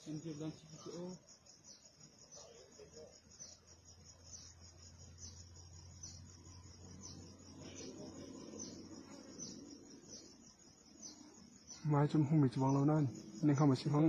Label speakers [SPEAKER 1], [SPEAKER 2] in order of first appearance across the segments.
[SPEAKER 1] Sindir dan ciki ki o. Ngai cu hmumi cu bang lo nain ning ham a si hmang.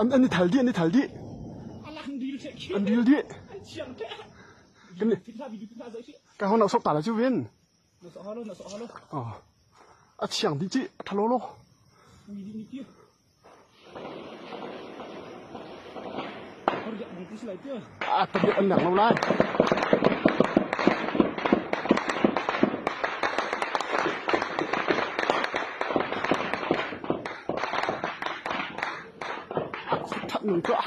[SPEAKER 1] An i thal dih, an i thal dih. An dil dih. Ka hon nok sok ta lah cu Vin. A thiang ding ci a thalo lo. A tablet an nak lo lai. That nun tuah.